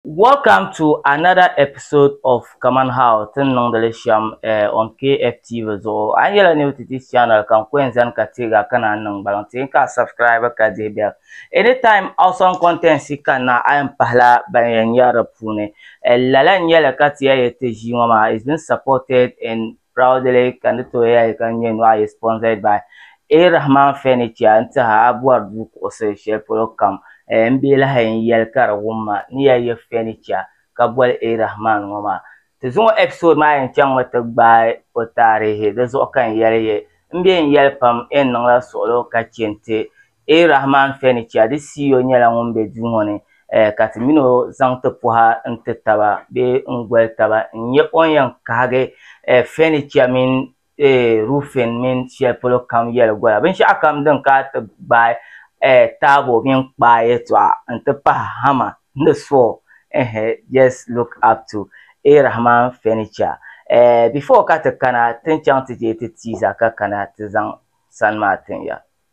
Welcome to another episode of Kaman How Ti Ni Niŋdi Li Shem eh, on KF TV zuɣu. A yi nyɛla new to this channel ka n ko n zani ka teeg a ka naan niŋ gbaliŋ ti n ka a subscribe ka dihi bell. Anytime awesome contents ka na a yɛn pahila ban yɛn nyari di puuni. Eh, lala n nyɛli ka ti ya yɛ ti ʒii ŋɔ maa is being supported and Proudly ka n ti tooi yɛli ka n nyɛ Nuhi Ayi Sponsored by A Rahman Furniture n tihi a bɔri duu kuɣusi shɛli polo kam eh n bɛ lahi n yɛli ka di wum ma ni ya yɛ furniture ka boli A Rahman ŋɔ maa Ti zuŋɔ episode maa yɛn chaŋ mi ti gbaai o taarihi di zuɣu ka n yɛli yɛ n bɛ n yɛli pam eh n niŋla suɣulo ka che n ti A Rahman Feni Kyadi Siyo nyɛla ŋun be duu ŋɔ ni ka ti min o zaŋ ti pɔha n-ti taba bee n-goli taba n-nyɛ o ni yɛn kahigi Feni Kya mini Rufen mini shɛli polo kam yɛli gola binshɛɣu kam din kana ti gbaai taabo mini kpaa yɛtɔɣa n-ti pahi hama ni saw ɛhɛ just look up to A Rahman Feni Kya before ka ti kana ti ni chaŋ ti je ti teaser ka kana ti zaŋ sani maa tin ya.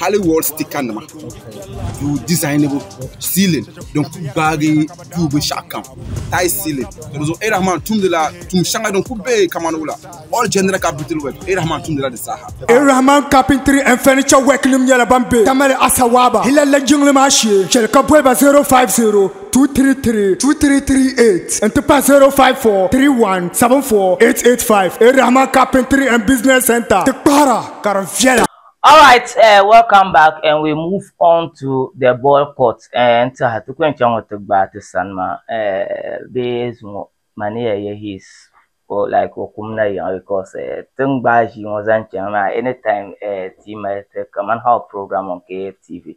hali wall sticker nima duu dizainibu siilin din ku gbaagi duu binshaɣu kam tais siilin ka di zuɣu erahman tumdila tum shɛŋa din ku bɛ kamani wula all general capital work erahman tumdila di zaaha Irahman Carpentry and Furniture Work nim nyɛla ban be Tamale Asawaaba Hilalla jiŋli maa shee chɛli ka boliba 050-233-2338 n ti pahi 054-31-74885 Irahman Carpentry and Business Centre ti kpahira ka di viɛla. Alright eh welcome back and we move on to the ball court eh n tiɛha ti ku yɛn chaŋ ŋɔ ti gbaai ti sani maa eh bee zuŋɔ ma ni yɛn yɛ his or like o kum na yiɣi because eh ti ni gbaai ʒii ŋɔ zaŋ chaŋ maa anytime eh ti yi mali ti kamani how program on KFTV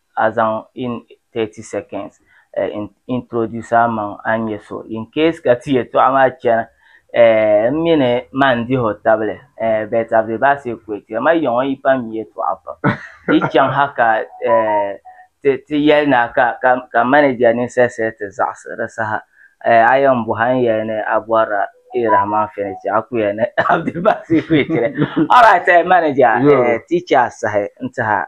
a zaŋ in 30 seconds eh, introduce a maŋ a ni nyɛ so in case ka ti yɛtɔɣa maa chana eh, m mini ma n dihi o tabili eh, but a be baɣisi equator ma yiŋɔ yi pam mi yɛtɔɣa pam yi chaŋ ha ka eh, ti, ti yɛli na ka, ka, ka manager ninsal shɛli ti zaɣisi di saha eh, a yɛn bɔha n yɛli ni a bɔrila E. Rahman Furniture a ku yɛli ni a be baɣisi equator alright eh, manager eh, ti chɛ a sahi n tihi a.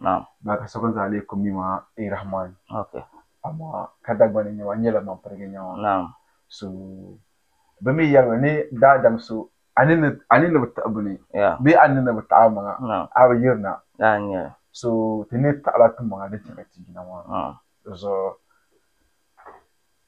Naam. Baa ka sokam zaa lee kum mi ma Ey Rahman. Ok. Amaa ka Dagbani n-nyɛ ma, n nyɛla man pirigi nya ma. Naam. So bɛ mi yɛli mi ni daadam so a ni ni a ni ni bi taɣi bini Yeah. bee a ni ni bi taɣi a maŋa Naam. a bi yiri na. Daa n nyɛli. So ti ni taɣila ti maŋa din chɛ ka ti yina maa Naam. zuɣu.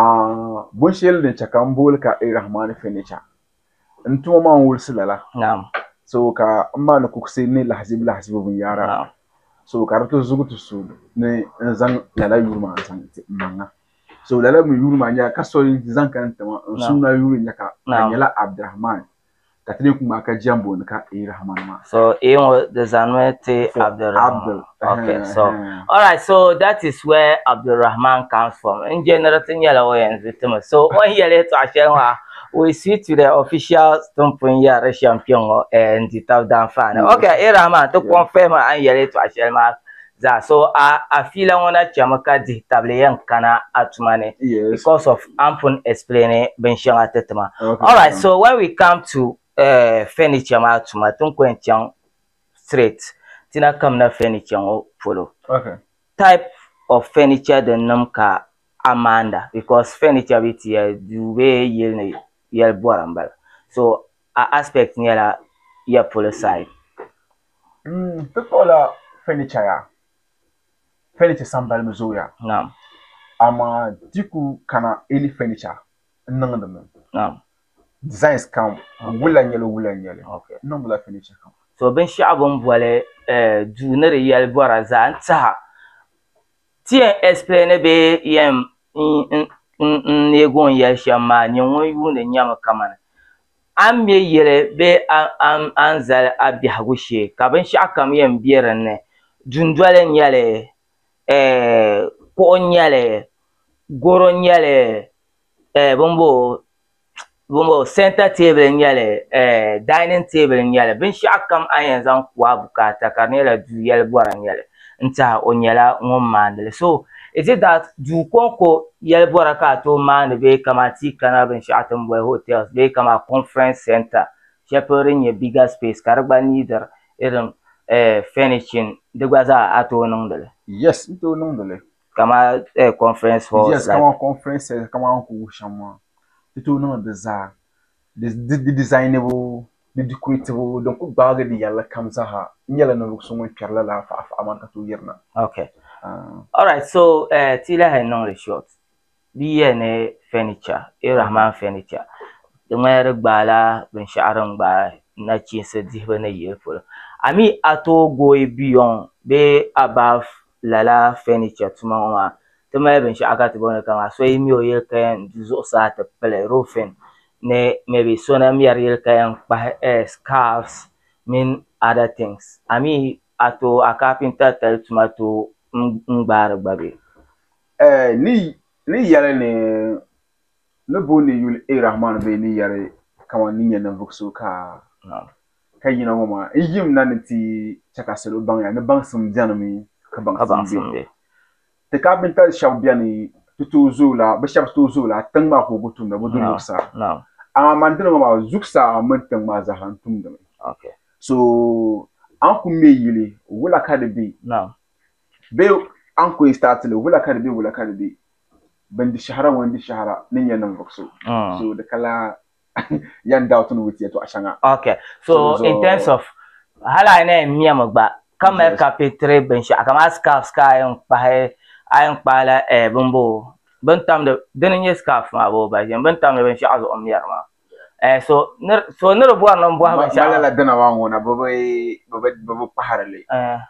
A Bɔn shɛli din chɛ ka n booli ka Ar-Rahmaani Fɛnicha, n tuma maa n-wulisi lala, so ka m maani kuɣisi ni lahizibu lahizibu binyɛra, so ka di ti zugi ti so ni n zaŋ lala yuri maa n-zaŋ ti m maŋa. So lala mi yuri maa nyɛla ka so zaŋ ka n ti ma n sumna yuri n-nyɛ ka ka di nyɛla Abdirahmaani. Ka ti lee ku ŋmahi ka jɛmbu ni ka eei Rahman maa. So eei ŋɔ di zanimi ti Abdul Rahman. Abdul. Okay, so all right, so that is where Abdul Rahman comes from. N jɛniri ti nyɛla o yɛn zu timi. So o ni yɛli yɛtɔɣa shɛli ŋɔ ha, we switch to the official stump n yɛrili shɛm kpɛŋɔ n di tab danfaani. Okay, eei Rahman ti confirm a ni yɛli yɛtɔɣa shɛli maa Zaɣ so a a fiila ŋɔ na chɛmi ka dihi tabili yɛn kana a tuma ni because of a ni pun explain binshɛŋa ti ti ma. Alright, so when we come to uh, furniture maa tuma ti ni kɔŋ chaŋ straight ti na kamina furniture ŋɔ polo. Type of furniture din nim ka a maanda because furniture bee ti yɛli duu bee yili ni yɛli bɔra m-bala. So a aspect nyɛla ya polo side. Ti kpuɣila fɛnicha yaa, fɛnicha sambali mi zooya amaa di ku kana eeli fɛnicha n-niŋdi mi. Designs kam wula n-nyɛli wula n-nyɛli n-niŋdila fɛnicha kam. To binshɛɣu bɛ ni boli duu ni di yɛli bɔra zaa n-tiɛha. Ti yɛn explaini bee yɛn n-neeg o ni yɛli shɛm maa, nyini ŋun yuuni nyami kamani A ni me yili bee a ni zali a biɛhigu shee ka binshɛɣukam yɛn be din ni, dundoli n-nyɛ li, kuɣu n-nyɛ li, garo n-nyɛ li, santa teebuli n-nyɛ li, dainin teebuli n-nyɛ li binshɛɣukam a ni yɛn zaŋ ku a bukaata ka di nyɛla du yɛli bɔra n-nyɛ li. n tiɛha o nyɛla ŋun maandi li. So is it that duu kɔŋko yɛlibɔra ka a tooi maandi bee kaman ti yi kana binshɛɣu ti ni boli hotels bee kaman conference centre shɛli polo din nyɛ bigger space ka di gba niidiri irin eh furnishing di gba zaa a tooi niŋdi li? Yes n tooi niŋdi li. Kaman eh conference halls like? Yes kaman conference centre kaman a ni kuli wuhi shɛm maa ti tooi niŋdi di zaa di di designibu Di dikuriitibu din kuli gbaagi di yɛlli kam zaaha nyɛla ninvuɣu so ŋun kpɛri lala faɣa faɣa maa ka tooi yiri na. Okay. All right, so eh, ti yi lahi niŋ li short, di yiya ni furniture, A. Rahman furniture, di ŋmanila di gbaai la binshɛɣu din gbaai nachiinsi dihibu ni yili polo. I mean, a tooi gooi beyond bee above lala furniture tuma ŋɔ maa ti mali binshɛɣu ka ti booni kaman so yi me o yili kaya n-du zuɣusaa ti pili roofing ni maybe so na mɛri yili kaya n-kpahi scarves mini other things a mi a tooi a carpenter tali tuma tooi n-gbaari gba bee? Eh, ni, ni yɛli ni ni booni yuli A-Rahman bee ni yɛli kaman ni nyɛ ninvuɣ so ka. Naam. Ka yina ŋɔ maa, n yim na ni ti chɛ ka salo baŋ ya ni baŋsim benimi ka baŋsim be. Ti kaapintali shɛba beni ti tooi zooi la, bɛ shɛba tooi zooi la tiŋ maa ka o ku tumda bɛ dun luri saha. Amaa man dini ŋɔ maa, zuɣusaa mini tiŋ maa zaa ha n tumdimi. So a ni ku me yili, wula ka di be? Bee a ni ku yi staati li, wula ka di be, wula ka di be? Bɛ ni di shɛhira ŋɔ n-di shɛhira ni nya ninvuɣ so. So di ka laa. yan doubt ni wuti yɛtɔɣa shɛŋa. Ok, so in terms of hali a yi na yɛn miɛmi gba ka mali carpentry binshɛɣu kamani scarves ka a yɛn kpahi a yɛn kpahi la eh bimboo bini tamdi dini n-nyɛ scarves maa boo ba ʒini bini tamdi binshɛɣu zuɣu m-miɛri maa eh so so ni di bɔri ni m bɔhi binshɛɣu. Malila dina maa ŋuna bɛ bi bɛ bi kpahiri li.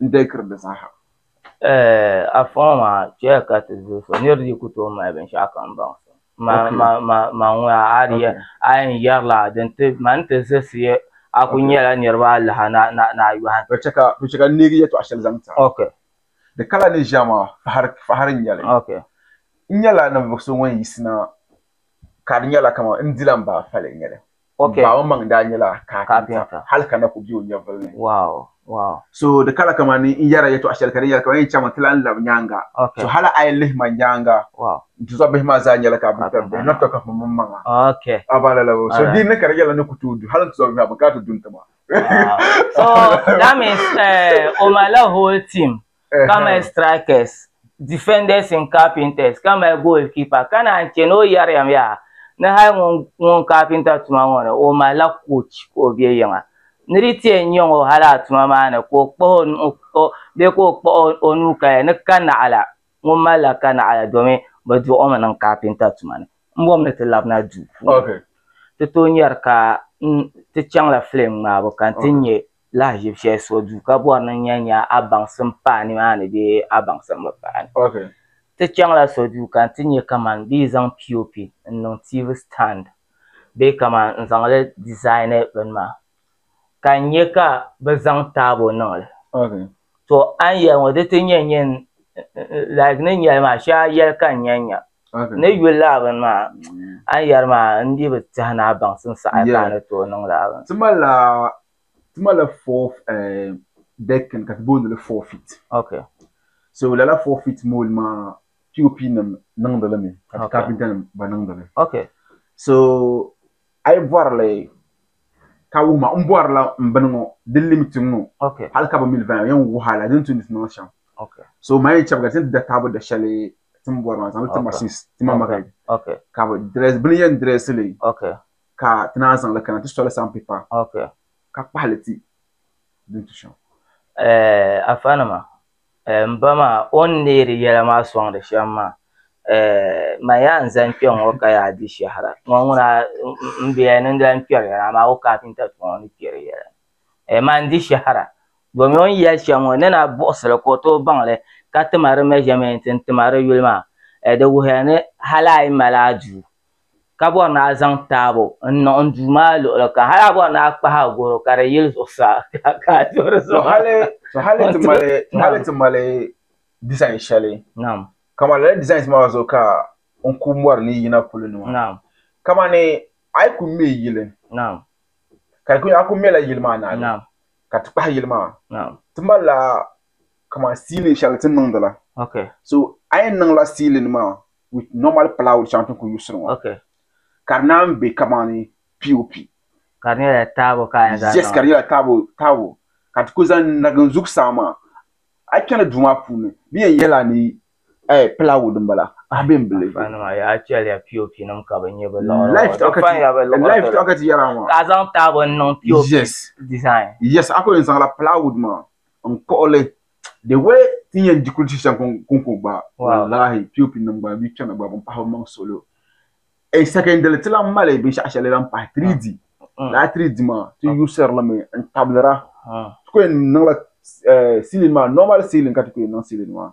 n-deekiri di zaaha. Afaŋɔ maa, chɛya ka ti zuhi so, nir dii ku tooi mali binshɛɣu kam baŋ so. Ma ŋun a a di yɛn yɛrila din ti ma ni ti zisi ya, a ku nyɛla niriba alaha ni a yɔhim. Bɛ chɛ ka n neegi yɛtɔɣ shɛli zaŋ ti a. Di kala ni ʒiɛm a, fahiri n-nyɛ li. N nyɛla ninvuɣ so ŋun yiɣisina, ka di nyɛla kaman n dila m-baai fali n-nyɛ li. Okay. Ba o maŋ daa nyɛla kaapinta hali ka na ku be o nyɛvili ni. Wow, wow. So di kala kaman ni n yɛra yɛtɔɣ shɛli ka di yɛli kaman yɛn chaŋmi ti lan lab nyaaŋa. Okay. So hali a yi lihi ma nyaaŋa, Wow. n tizɔbihi maa zaa nyɛla kaapinta bihi, not talk of m mmaŋa. Okay. A ba lala o. So Alright. din ni ka di yɛla ni ku tooi du, hali n tizɔbihi maa bɛ kana ti du n-ti ma. Wow. So that means eh, o malila whole team ka mali strikers, defenders and carpenters ka mali goalkeeper ka naan che ni o yɛriyam yaa ni hali ŋun ŋun carpenter tuma ŋɔ ni o malila coach ka o be yiŋa ni di ti yɛn nyaŋ o hali a tuma maa ni ka o kpuɣi o nuhi bee ka o kpuɣi o nuu kaya ni kanaɣila ŋun malila kanaɣila domin bɛ duɣi o mi niŋ carpenter tuma ni m-bom ni ti labina duu puuni ti tooi nyari ka n ti chaŋla film ŋmaabu ka n ti nya lahaʒib shɛli so duu ka bɔri ni nya nya a baŋsim paai nimaani bee a baŋsim bi paai. Ti chaŋla so duu ka nti nya kaman bɛ yi zaŋ POP n-niŋ TV stand bee kaman n-zaŋ li dizaini bini maa, ka n nya ka bɛ zaŋ taabo niŋ li. To a ni yɛli ŋɔ di ti nyɛ nyɛ like ni yɛli maa shɛli a yɛli ka n nya nya ni yuli laa bini maa a ni yɛli maa n dii bi tɛhi ni a baŋsim saha ka a ni tooi niŋ laa bini. Ti malila four dekin ka ti booni li four feet so lala four feet mould maa POP nim niŋdi li mi ka ti kapinta nim gba niŋdi li so a yi bɔri li Ka wuhi ma, n bɔrila m bini ŋɔ din lim tiŋ ŋɔ hal ka bɛ mi li vaya yɛn wuhi a la din tumdi ti niŋ shɛm. So ma yɛn chabiga ti ni ti da taabo da shɛli ti ni bɔri maa zaŋ li ti ma since ti ma magari ka bɛ dirɛsi bini yɛn dirɛsi li ka ti naan zaŋ li kana ti soli sand paper ka kpahi li ti din tu shɛm. Afanima M ba maa o ni neeri yɛla maa sɔŋdi shɛm maa ma yaa n zani kpɛŋŋɔ ka yaa di shɛhira ŋɔ ŋuna m bia niŋdila n kpɛri yɛla amaa o kafinta tuma o ni kpɛri yɛla ma n di shɛhira domin o ni yɛli shɛm ŋɔ n ni na buɣisili ka o tooi baŋli ka tima di mɛʒamɛnt n tima di yuli maa di wuhiya ni hali a yi mali a duu ka bɔri ni a zaŋ taabo n-niŋ n duu maa luɣili kam hali a bɔri ni a kpahi a garo ka di yili zuɣusaa ka a duhi di zuɣu. To hali ti mali hali ti mali design shɛli kaman lala designs maa zuɣu ka n ku mɔri ni yi yina polo ni maa kamani a yi ku me yili ka di ku a ku mela yili maa naai ka ti kpahi yili maa ti malila kaman ceiling shɛli ti ni niŋdi la so a yɛn niŋla ceiling maa with normal plywood shɛŋa ti ni ku yuɣisiri ŋɔ okay ka di naan bɛ kamani pop ka di nyɛla taabo ka yɛn zaŋ yes ka di nyɛla taabo taabo ka ti ku zaŋ nagin zuɣusaa maa a yi kpɛla duu maa puuni di yɛn nyɛla ni plywood m-bala a bɛ m-bili ka a zaŋ taabo n-niŋ pop yes yes a ku yɛn zaŋla plywood maa n-kpuɣi li the way ti yɛn di kulisi shɛŋ kunko gba wallahi pop nim gba mi kpɛna gba bin pahi bi maŋ solo e secondary ti lan mali binshaɣu shɛli lan pahi 3d laa 3d maa ti yuusiri limi n tabira ti ko yɛn niŋla ceiling maa normal ceiling ka ti ko yɛn niŋ ceiling maa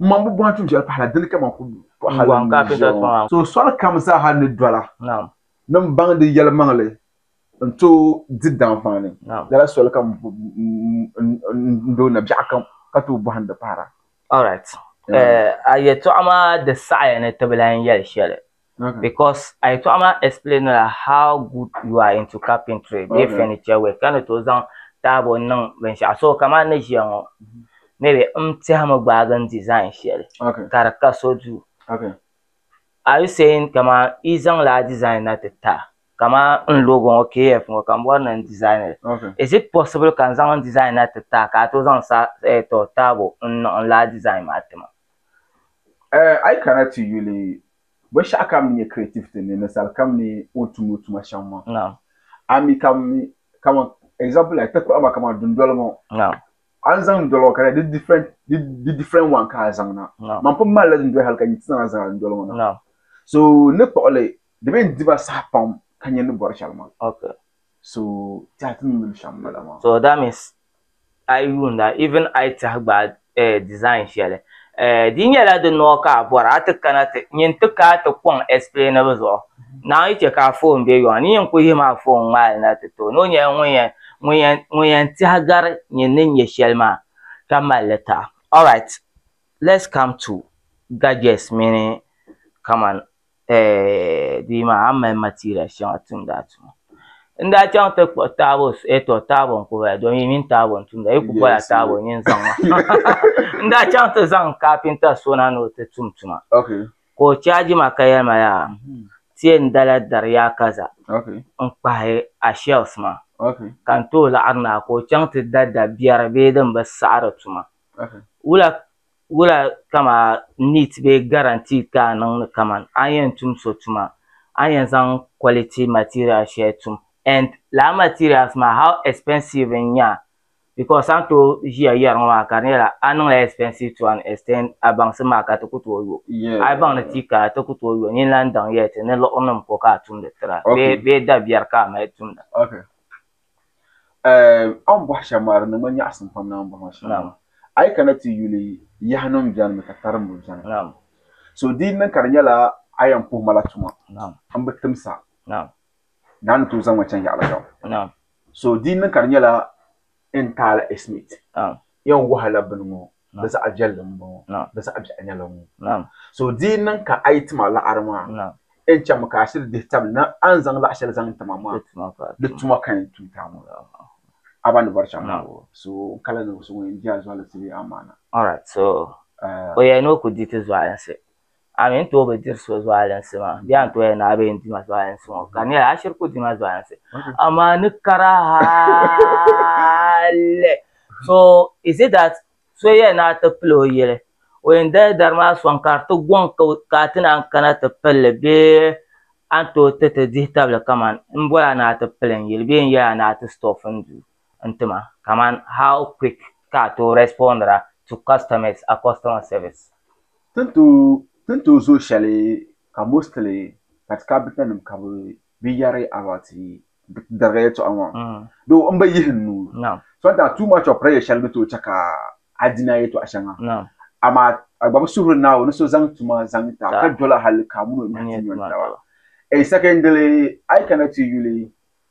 M maŋ bi bɔhi tuun shɛli pahila, dini ka man kuli pɔhili n ʒiya ŋɔ. So soli kam zaaha ni dɔla ni m baŋ di yɛlimaŋli n-tooi di danfaani, lala soli kam n-doo na biɛɣu kam ka tooi bɔhim di pahira. Alright, a yɛltɔɣa maa di saɣiya ni ti bi lahi yɛli shɛli. Because a yɛtɔɣa maa explainila how good you are into carpentry bee furniture work ka ni tooi zaŋ taabo niŋ binshɛɣu so kamani ni ʒiya ŋɔ maybe n tɛhimi gbaagi n design shɛli ka di ka so duu are you saying kamani yi zaŋla a design na ti ta kamani n logo ŋɔ KF ŋɔ ka m bɔri ni n design li is it possible ka n zaŋ n design na ti ta ka a tooi zaŋ taabo n niŋ n lala design maa ti ma. A yi kana ti yuli binshɛɣu ka mi nyɛ creativity ni ninsali kam ni o ni tumdi o tuma shɛm maa, a mi ka mi kaman example like ti kpuɣi ma kaman dundoli ŋɔ a ni zaŋ dundoli ŋɔ ka di different di different one ka a zaŋ na man pun malila dundoli hali ka nyi ti zaŋ zaŋ a dundoli ŋɔ na so n ni kpuɣi li di mi n di ma saha pam ka nyɛ ni bɔri shɛli maa so tɛha ti ni yuli shɛm m-bala maa. a yi yuunda even a yi tɛhi gba design shɛli di nyɛla di nɔɔ ka a bɔra a ti kana ti nyin ti ka a ti kɔŋ explainibu zuɣu Naawuni yi chɛ ka a foon be yɔŋ ni nyin kul yihi ma a foon ŋmaa li na ti ti o ni o nyɛla ŋun yɛn ŋun yɛn ŋun yɛn tɛhi gari nyin ni nyɛ shɛli maa ka mali li taɣi. Alright let's come to gadgets mini kaman eh, bia maa a ni mali materials shɛŋa tumdi a tuma n daa chaŋ ti kpuɣi taabo eh to taabo n ku bala domi yi mini taabo n tumda yi ku bɔla taabo n yin zaŋ ma n daa chaŋ ti zaŋ kaapinta so na ni o ti tum tuma okay ka o chaji ma ka yɛli ma yaa mm-hmm. ti yɛn dala dari yaa kaza okay n kpahi a shells ma okay ka n tooi laɣiri na ka o chaŋ ti da dabiɛri bee din bi saɣiri tuma okay wula Wula kamaa neat bee guaranteed ka a niŋdi kaman a ni yɛn tum so tuma a ni yɛn zaŋ quality materials shɛli tum and lala materials maa how expensive n nya because a ni tooi ʒiya yɛri ŋɔ maa ka di nyɛla a niŋla expensive to an extent a baŋsim maa ka ti ku tooi yo a yi baŋ ni ti kaya ti ku tooi yo nyin lan daŋ yɛli ti ni liɣirinim ko ka a tumdi tira bee dabiɛri ka a mali tumda. A ni bɔhi shɛba maa di niŋ ma nyaɣisim pam ni a ni bɔhi ma shɛli maa. A yi kana ti yuli yahinima beni mi ka tarimbu beni. So di yi niŋ ka di nyɛla a yɛn puhi ma la tuma m bi tim sa ni a ni tooi zaŋ ma chaŋ yaɣili kam. So di yi niŋ ka di nyɛla n taala ɛsimiti yɛn wahala bini ŋɔ Bɛ zaɣ viɛlli m-bɔŋɔ, bɛ zaɣ biɛɣu nyɛla ŋɔ. So di yi niŋ ka a yi ti ma laɣiri maa, n chaŋmi ka a shiri dihi tabili ni a ni zaŋ laɣ shɛli zaŋ ti ma maa, di tuma ka yɛn tuui ti a ŋɔ. A ba ni bɔri chaŋ maa, so n kala ni so ŋun yɛn di a zualinsi bee amaana. Alright, so o yɛli ni o ku di ti zualinsi. a mi n tooi bi diri so zualinsi maa bee a ni tooi yɛli ni a bi yɛn di ma zualinsi ŋɔ ka di nyɛla a shiri ku di ma zualinsi amaa ni kara hali so is it that so yɛli ni a ti pili o yili o yɛn dali dari maa sɔŋ ka di ti gɔŋ ka a ti naan kana ti pilli bee a ni tooi ti ti dihi tabili kamani n boli a ni a ti pili n yili bee n yɛli a ni a ti stɔɔf n duu n ti ma kaman how quick ka a tooi respondira to customers a customer service. Tin tooi zooi shɛli ka mostly ka ti kabitanima ka bɛ bi yɛri about dariga yɛltɔɣa ŋɔ though m bi yihi n nuu sometimes too much of pressure shɛli ni tooi chɛ ka a di ni a yɛltɔɣa shɛŋa amaa a gba bi suhiri Naawuni ni so zaŋ tuma zaŋ ti a ka doli a hali ka a mini o nyɛhi ti nyɔni taba. Secondly, a yi kana ti yuli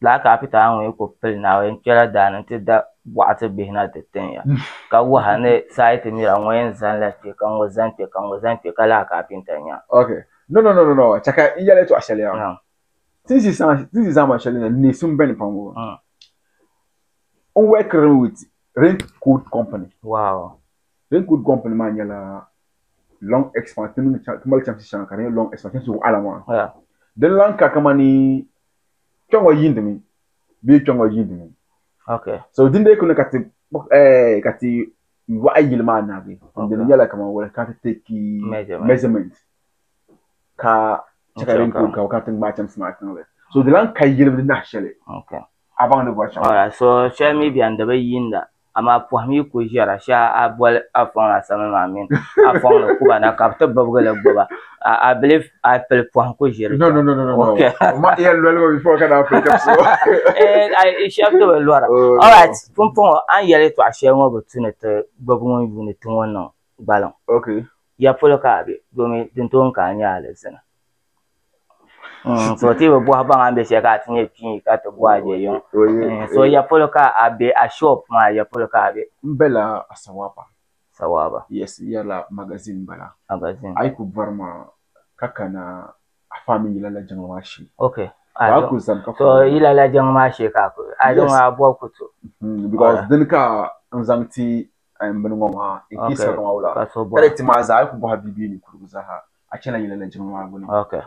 lala kapita ŋɔ yi kuli pili Naawuni kpɛla daa ni n-ti da bɔɣati bihi na ti tin ya, ka waha ni saiti mira ŋɔ yɛn zaŋ la kpe ka ŋɔ zaŋ kpe ka ŋɔ zaŋ kpe ka lala kapinta nya. Ok, no no no no, chɛ ka n yɛli tɔɣu shɛli ya. Naam. Tinsi tinsi zaama shɛli na neesi m beni pam ŋɔ, n wɛkirimi with Rain Coat Company. Wow. Rain Coat Company maa nyɛla long expanse, ti mali chamsi shɛŋa ka di nyɛ long expanse, chamsi waɣila maa. Yeah. Din lahi ka kamani kpɛ ŋɔ yiindimi bee kpɛ ŋɔ yiindimi okay so din dee kuni ka ti eh, ka ti waɣa yili maa naagi okay. din nyɛla kamar wala ka ti teki measurement ka chɛ ka din kuli gabi ka ti ŋmaai chɛmsi maa tiŋli so di lan ka yili di nahi shɛli okay. a baŋ ni bɔri shɛm so shɛli mi bɛni di bi yiinda Amaa pɔhim yi ku ʒiɛra shee a bol Afɔŋ ni Asame maa mini Afɔŋ ni Kuba na ka bɛ ti bibigi li gbuba. I believe a pili pɔhim ku ʒiri kpɛm. No, no, no, no, no. Ma yɛn loli ma before ka daa pili kapsi o. Eh, shɛb ti bi lɔra. All right, Pumpɔŋɔ, a ni yɛli yɛtɔɣ shɛli ŋɔ bi tu ni ti gbibi ŋun yuuni ti ŋɔ niŋ gbaliŋ. Okay. Ya polo ka a be domin din tooi n-ka a nya alizina. So ti bi bɔhi baŋ a bɛ shɛli ka a ti nyɛ pii ka ti bɔhi a bɛ yuŋ so ya polo ka a bɛ a shop maa ya polo ka a bɛ. N bala a sawaaba. Sawaaba. Yes yɛla magazine bala. Magazine. A yi ku bɔri ma ka kana a faa mini yila la jɛŋa maa shee. Okay. Ka ku zani ka. So yila la jɛŋa maa shee ka a ku. Yes. A zaŋ a bɔbi ku to. Because dini ka n zaŋ ti bini ŋɔ maa. Okay. Ka so bɔra. Ka di ti maa zaa a yi ku bɔhi a bia bee ninkurigu zaa ha. Okay.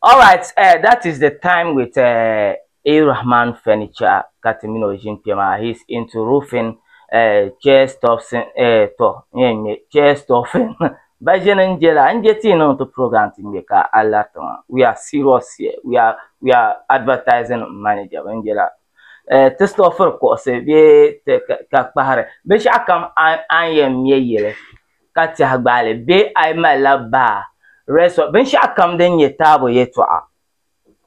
All right, uh, that is the time with uh, A. Rahman Furniture ka ti mini o ʒin kpɛ maa. He is into roofing, uh, chair stuffs, uh, to, nye nye, chair stuffing. Ba ʒe ni nje la, nje ti niŋ ti program ti ŋmɛ ka Allah tiŋa. We are serious here. We are, we are advertising manager. Ba nje la, uh, ti stuffir kuɣisi bee ti ka kpahiri. Binshɛɣu kam an yɛn ŋmɛ yili. ka tɛhi gbaali bee a yi malila baa, resort, binshɛɣukam din nyɛ taabo yɛtɔɣa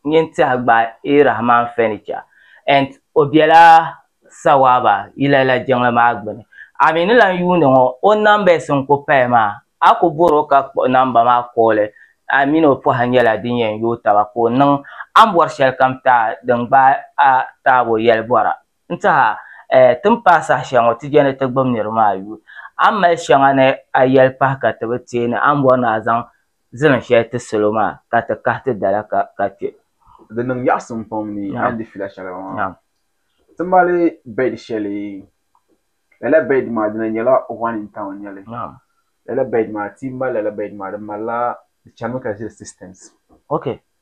nyin tɛhi gbaai Rahman Furniture and o bela Sawaba yila la jiŋli maa gbini. A mi ni lan yuuni ŋɔ o numbers n-ku paya maa, a ku bɔr o ka kpuɣi namba maa kooli. A min o pɔha nyɛla din yɛn yooi taba ka o niŋ a ni bɔri shɛlikam taai din gbaai a taabo yɛlibɔra. N tiha, ɛɛ, ti ni paai saha shɛli ŋɔ ti je ni ti gbib niriba maa yuui. A ni mali shɛŋa ni a yɛli pahi ka ti bi teei ni a ni bɔri ni a zaŋ zilim shɛli ti salo maa ka ti kahi ti dala ka kpe. Di niŋ yaɣisim pam ni a ni di fila shɛli maa. Ti mali bɛd shɛli, lala bɛd maa dina nyɛla one in town nyɛli. Lala bɛd maa, ti yi mali lala bɛd maa di malila, di chanimi ka ʒiri systems.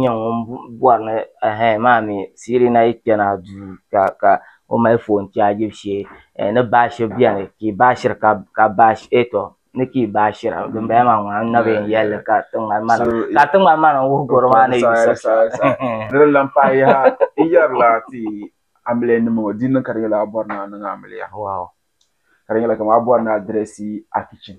nyɛ ŋun bɔri ni ɛɛh maa mi siri na yi kpɛna duu ka ka o mali foon chaajibu shee ɛɛh ni baashi bɛni ka yi baashiri ka ka baashi ɛɛh tɔ ni ka yi baashira din bala maa ŋun nabi yɛn yɛlli ka tiŋgbani maa ka tiŋgbani maa niŋ wuhi garo maa ni yuusi di ni lan paai yaha n yɛrila ti amiliya nima ŋɔ di ni niŋ ka di nyɛla a bɔri ni a niŋ amiliya ka di nyɛla kamani a bɔri ni a dirɛsi a kichin.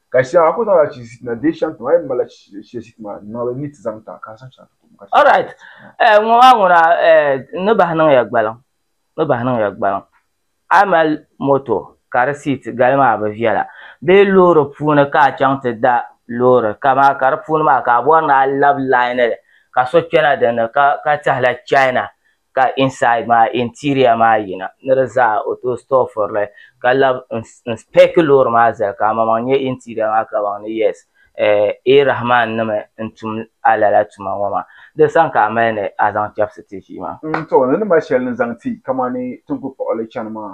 Ka shɛŋa a ku zaŋla chi ʒi ti na dee shɛŋa ti ma a yi malila chi shɛli ʒi ti ma n niŋli ni ti zaŋ ti a ka a zaŋ shɛŋa ti tum ka ti Alright eh ŋɔ maa ŋuna eh n ni bahi niŋya gbaliŋ n ni bahi niŋya gbaliŋ a mali moto ka di seat gali maa bi viɛla bee loori puuni ka a chaŋ ti da loori ka maa ka di puuni maa ka a bɔri ni a labi line li ka so kpɛna din ni ka ka tɛhi la China ka inside maa interior maa yina ni di zaa o tooi store furili ka lab n spec loori maa zali ka amaŋmaŋ nyɛ interior maa ka baŋ ni yes A. Rahman nima n tum a lala tuma ŋɔ maa di sani ka a mali ni a zaŋ chɛbisi ti ʒii maa. N too ni ni mali shɛli ni zaŋ ti kamani tinkukpuɣili chani maa.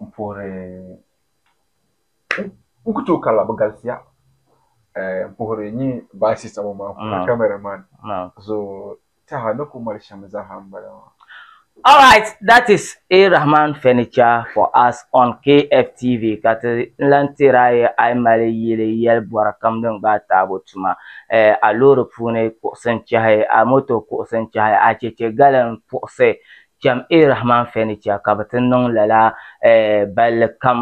n puhiri n ku tooi karila bi galisiya n puhiri n nyɛ baasi sabo maa ku na kamɛra man so taha ni ku mali shɛm zaaha n bala maa All right, that is A. Rahman Furniture for us on KFTV ka ti lan teeri a yi a yi mali yili yɛli bɔri kam din gbaai taabo tuma, eh, a loori puuni kuɣusi n-chɛhi, a moto kuɣusi n-chɛhi, a chɛchɛ gali n-puɣusi, Cham A Rahman fɛ ni chɛ ka bɛ ti niŋ lala balli kam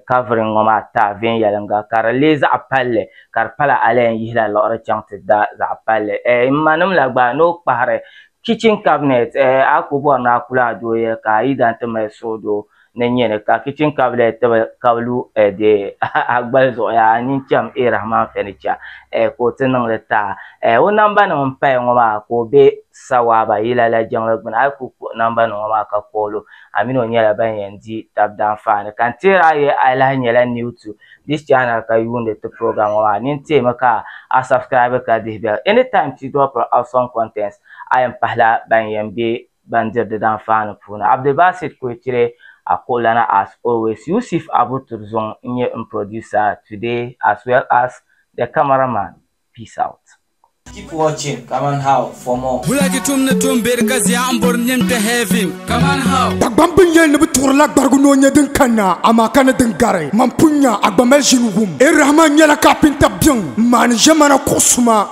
kafiri ŋɔ maa taai viɛnyɛliŋga, ka di leei zaɣ palli, ka di pala a lahi yihila liɣiri chaŋ ti da zaɣ palli. M manim la gba, ni o kpahiri kitchen cabinet, a ku bɔri ni a ku lahi dooyiya ka a yidana ti mali suhudoo. ni nyɛni ka kichin kablet tibi ka bi lu dee a gbali zuɣu yaa a nyin cham A Rahman Furniture ka o ti niŋ li taa o namba nim n paya ŋɔ maa ka o be Sawaaba yila la jiŋli gbuni a yi kuli kpuɣi namba nim ŋɔ maa ka call o a mini o nyɛla ban yɛn di tab danfaani ka n teeri a yɛli a lahi nyɛla new to this channel ka yuundi ti program ŋɔ maa nini teemi ka a subscribe ka dihi bell anytime ti drop awesome contents a yɛn pahila ban yɛn be ban diri di danfaani puuni. Abdulbasit Koiture Akoolana as always Yusif Abu Turzong n nyɛ n producer today as well as the camera man peace out. Keep watching Kaman How for more. Bulaki tum ni tum beri ka zia n bori nim kpe heaven Kaman How. Dagbam bi nya ni bi tuɣiri la gbarigu ni o nya din kanna, amaa ka ni din gari. Man pun nya a gba mali ʒini wum. Ɛ Rahman nyɛla kapinta biɛŋ n maani ʒemana kuɣu suma.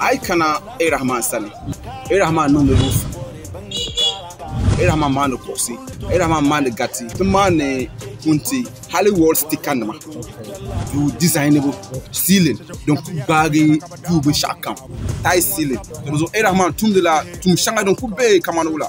a yi kana Irahman sani Irahman niŋdi luufu Irahman maandi kuɣusi Irahman maandi gariti ti maandi punti hali wall sticker nima duu dizayinibu siilin din ku gbaagi duu binshɛɣu kam taai siilin di zuɣu Irahman tumdila tuun shɛŋa din ku be kamani wula